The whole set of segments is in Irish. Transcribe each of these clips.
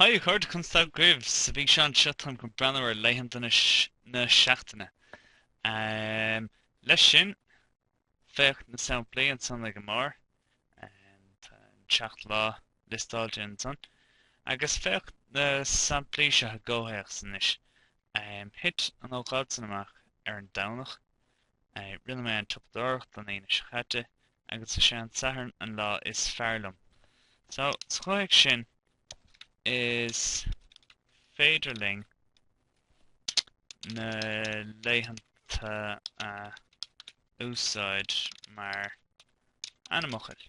Haigh a chairde, Constable Graves. Sa bhfíseán seo táim chun breathnú ar laethanta na seachtaine. Leis sin, féach na samplaí ansan ag an mbarr. Tá an seacht lá liostáilte ansan. Agus féach na samplaí seo i gcomhthéacs anois. Thit an ócáid san amach ar an Domhnach. Rinne mé an tsiopadóireacht ar an Aoine seo caite agus is é an Satharn an lá is fearr liom. So, sa chomhthéacs sin, is féidir linn na laethanta a úsáid mar ainmfhocail.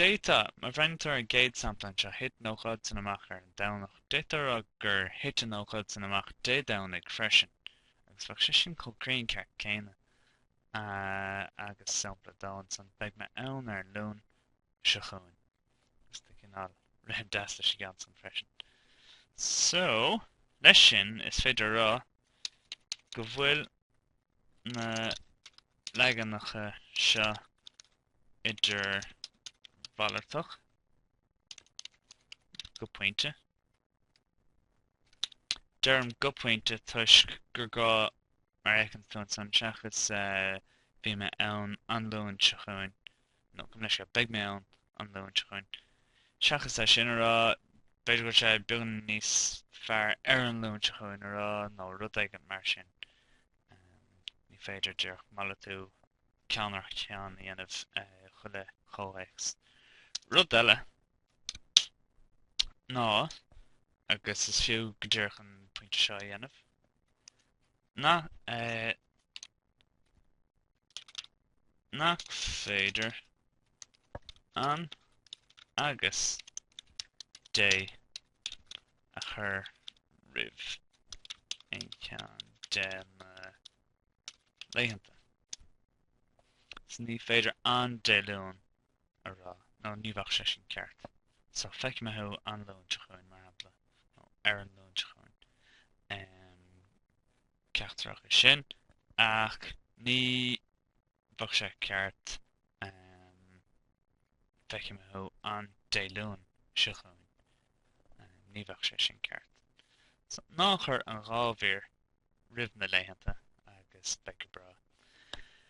D'fhéadfadh, má bhreathnaítear ar an gcéad sampla anseo, thit an ócáid san amach ar an Domhnach, d'fhéadfadh a rá gur thit an ócáid san amach Dé Domhnaigh freisin, agus bheadh sé sin chomh cruinn ceart céanna. Agus sampla dó ansan, beidh mé ann ar an Luan seo chugainn. Tá rithim deas leis an gceann san freisin. So, leis sin, is féidir a rá go bhfuil na leaganacha seo idirmhalartach go pointe. Deirim go pointe toisc gur gá, mar a fheiceann tú ansan, seachas bhí mé ann an Luan seo chugainn, nó comh leis seo, beidh mé ann an Luan seo chugainn, seachas é sin a rá, b'fhéidir go raibh sé beagán níos fearr ar an Luan seo chugainn a rá, nó rud éigin mar sin. Ní féidir, díreach, malartú ceann ar cheann a dhéanamh i chuile chomhthéacs. Rud eile ná, agus is fiú go díreach an pointe seo a dhéanamh, ná nach féidir an agus dé a chur roimh aon cheann de na laethanta. So ní féidir an Dé Luain a rá, nó ní bheadh sé sin ceart. So feicfidh mé thú an Luan seo chugainn mar shampla nó ar an Luan seo chugainn. Um, ceachtar acu sin ach ní bheadh sé ceart feicfidh mé thú an Dé Luain seo chugainn. Ní bheadh sé sin ceart. So, ná cuir an dhá mhír roimh na laethanta agus beidh tú go breá.